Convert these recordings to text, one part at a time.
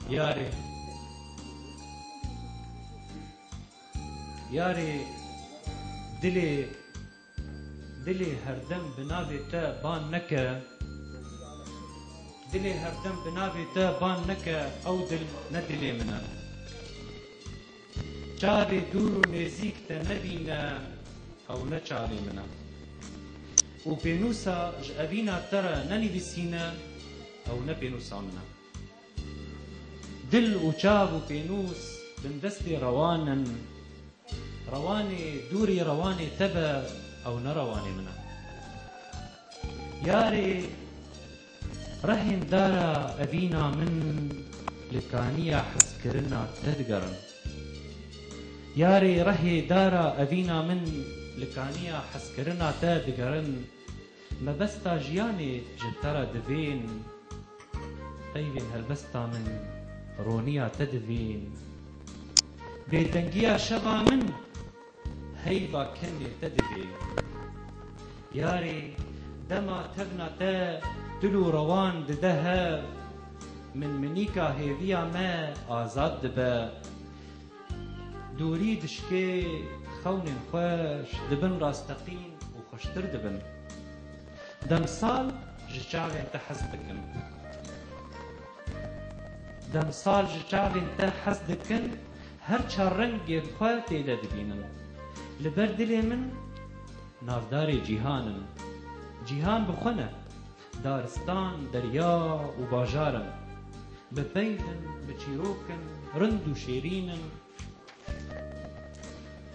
Yarê Yarê dilê Dilê herdem bi navê te ban neke Dilê herdem bi navê te ban neke Ew dil ne dilê min e. Çavê dûr û nêzîk te nebîne ew ne çavê min e û pênûsa ji evîna te re nenivîsîne ew ne pênûsa min e. Dil û çav û pênûs bindestê rewan in. Rewanê dûrê rewanê te be ew ne rewanê min e. Yarê. Rehên dara evîna min li kaniya hezkirina te digerin. Yarê rehê dara evîna min li kaniya hezkirina te digerin, mebesta jiyanê ji te re divên, peyvên helbesta min roniya te divên, bêdengiya şeva min, Heyva kemê te divê. Yarê dema tevna te dil û rewan dide hev, min minîka hêviya me azad dibe. Dûrî dişikê, xewnên xweş di bin rasteqîn û xweştir dibin. Demsal ji çavên te hez dikin. Demsal ji çavên te hez dikin, Her çar rengê xwe tê de dibînim. Li ber dilê min navdarê cîhan im. Cîhan bi xwe ne, daristan, derya û bajar im. Bi peyv im, bi çîrok im, rind û şêrîn im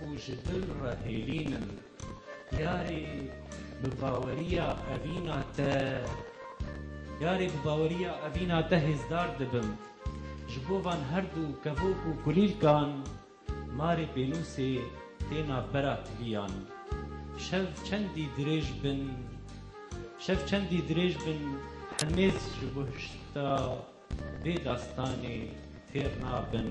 û ji dil re hêlîn im. Yarê bi baweriya evîna te Yarê bi baweriya evîna te hêzdar dibim Ji bo van her du kevok û kulîlkan Marê pênûsê têna bera tiliyan Şev çendî dirêj bin Şev çendî dirêj bin Hemêz ji bo hişta vê dastanê têr nabin.